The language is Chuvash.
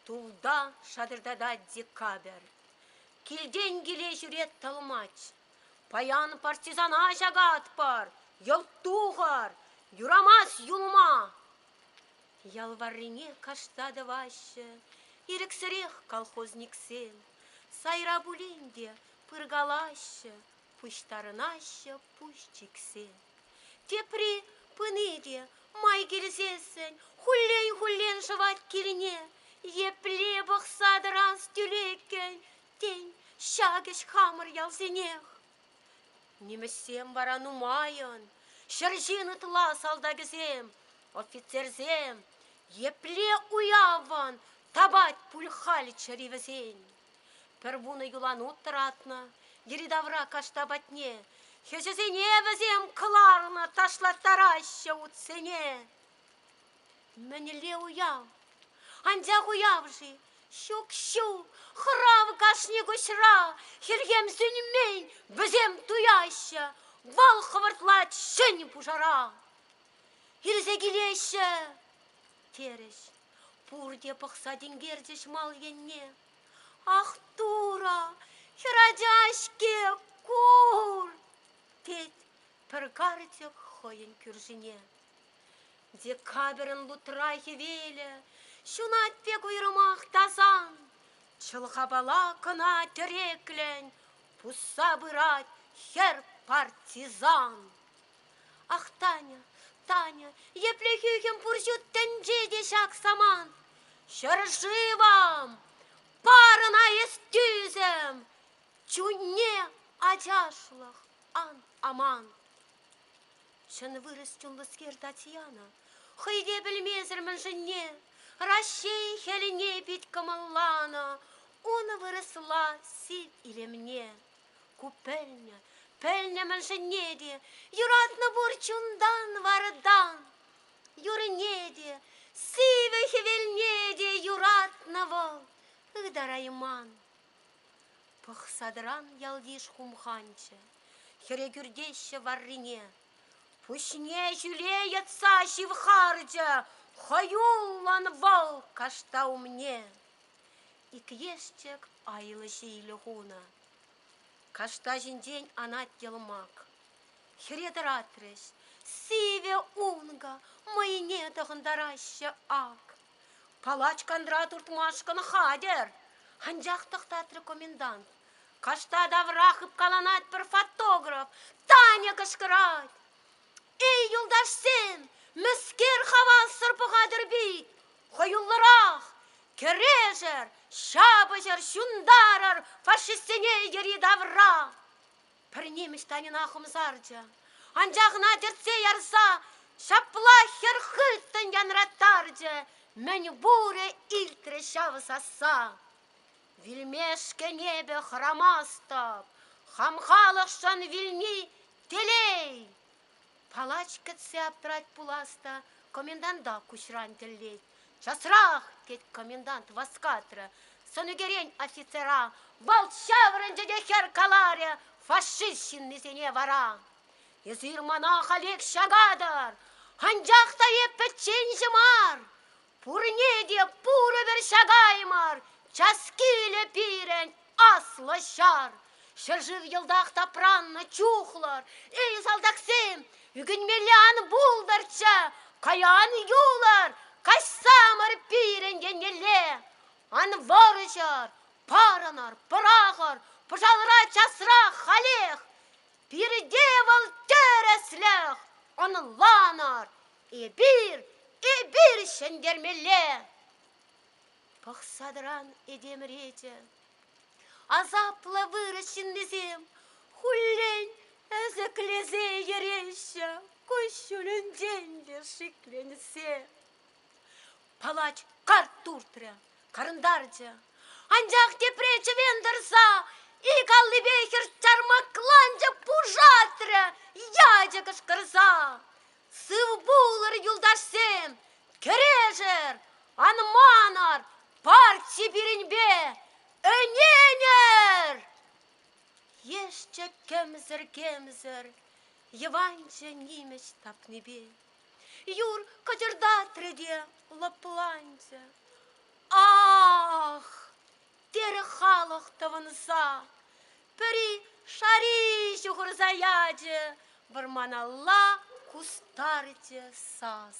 Тулта шатӑртатать декабрь. Килтен киле ҫӳрет тӑлмач. Паян партизана ҫакатпӑр, йӑлт тухӑр, юрамасть юлма. Ял варрине кашта тӑваҫҫӗ ирӗксӗрех колхозниксем. Сайра пулин те Пыркалаҫҫӗ, пуҫтарӑнаҫҫӗ пуҫ чиксе. Тепри пыни те май килсессӗн хуллен-хуллен шӑвать килне. Епле пӑхса тӑранс тӳлеккӗн тен ҫакӑҫ хамӑр ялсенех. Нимӗҫсем вара нумайӑн, ҫӗр ҫын ытла салтакӗсем, офицерсем, епле уявӑн тапать пуль халь чӗри вӗсен. Пӗр вунӑ юланут тӑратнӑ йӗри-тавра кашта патне. Хӗҫӗсене вӗсем кӑларнӑ ташлаттараҫҫӗ утсене. Мӗнле уяв? Анчах уяв-ши? Ҫук-ҫу, хӑрав кашни куҫра, хӗлхем сӳнмен, вӗсем туяҫҫӗ, вал хӑвӑртлать ҫӗн пушара. Илсе килеҫҫӗ, терӗҫ. Пурте пӑхса тинкерчӗҫ мал енне. Ах, Тура, хӗрача-ҫке, кур! тет пӗр карчӑк хӑйӗн кӳршине. Декабрьӑн лутра хӗвелӗ ҫунать пек уйрӑмах тасан. Чӑлхапала кӑна тӗреклӗн пусса пырать хӗр партизан. Ах, Таня, Таня, епле хӳхӗм пур ҫут тӗнче те ҫак самант! Ҫӗршывӑм! Парӑна эс тӳсӗм! Чунне ачашлӑх ан аман! Чӑн вырӑс чунлӑскер Татьяна хӑй те пӗлмесӗр мӗншӗнне Раҫҫей хӗлине пит кӑмӑлланӑ, унӑ вырӑсла сив илемне. Ку пӗлнӗ, пӗлнӗ мӗншӗнне те, юратнӑ пурччӗ унтан, вартан. Юрне те, сивӗ хӗвелне те юратнӑ вӑл ытарайман. Пӑхсадран ялйыш хумханчӗ, хӗре кӳртеҫҫӗ варрине. Пуҫне ҫӳле йӑтса ҫывхарчӗ хӑюллӑн вӑл кашта умне. Ик ешчӗк айлӑ ҫилӗ хунӑ. Кашта ҫинчен анать йӑлмак. Хӗре тӑратрӗҫ. Сивӗ ункӑ, мӑйне тӑхӑнтараҫҫӗ ак. Палач кантра туртмашкӑн хатӗр, анчах тӑхтатрӗ комендант. Кашта тавра хыпкаланать пӗр фотограф. Таня кӑшкӑрать. Эй, юлташсем, мӗскер хавассӑр пӑхатӑр пит? Хӑюллӑрах! Кӗрешӗр, ҫапӑҫӑр, ҫунтарӑр фашистсене йӗри-тавра! Пӗр нимӗҫ Таньӑна хумсарчӗ. Анчах ӑна тӗртсе ярса ҫапла хӗр хыттӑн янраттарчӗ, мӗн пурӗ илтрӗ ҫав сасса. Вилмешкӗн эпӗ хӑрамастӑп, хам халӑхшӑн вилни телей. Палач кӗтсе аптрать пулас та коменданта куҫран тӗллет. «Часрах!» — тет комендант васкатрӗ. Сӑнӳкерен офицера вӑлт ҫаврӑнчӗ те хӗр каларӗ фашист ҫыннисене вара. «Эсир мана халех ҫакатӑр, анчах та эп пӗчченҫӗ мар, Пурне те пурӗ пӗр ҫакаймӑр, час килӗ пирӗн аслӑ ҫар. Ҫӗршыв йӑлтах тапраннӑ чухлар, эй, салтаксем, ӳкӗнмелле ан пултӑрччӗ, каян юлӑр, каҫсамӑр пирӗн еннелле. Ан вӑрҫӑр, парӑнӑр, пӑрахӑр, пӑшалра часрах халех. Пирте вӑл тӗрӗслӗх, ӑнланӑр, Эпир, эпир ҫӗнтермелле! пӑхса тӑран этем речӗ. Асаплӑ вырӑс ҫыннисем хуллен ӗсӗклесе йӗреҫҫӗ куҫҫулӗнчен те шикленсе. Палач карт туртрӗ, карӑнтарчӗ. Анчах тепре чӗвен тӑрса ик аллипе хӗр чармакланчӑк пушатрӗ ячӗ кӑшкӑрса. Сывпулӑр, юлташсем! Кӗрешӗр! Ан манӑр! Парче пирӗнпе ӗненӗр! Ешчӗ кӗмсӗр-кемсӗр Йӑванчӑ нимӗҫ тапнипе. Юр кӑчӑртатрӗ те лӑпланчӗ. Ах! Терӗ халӑх тӑвӑнса. пӗри шари ҫухӑрса ячӗ, вӑрманалла кустарчӗ сас.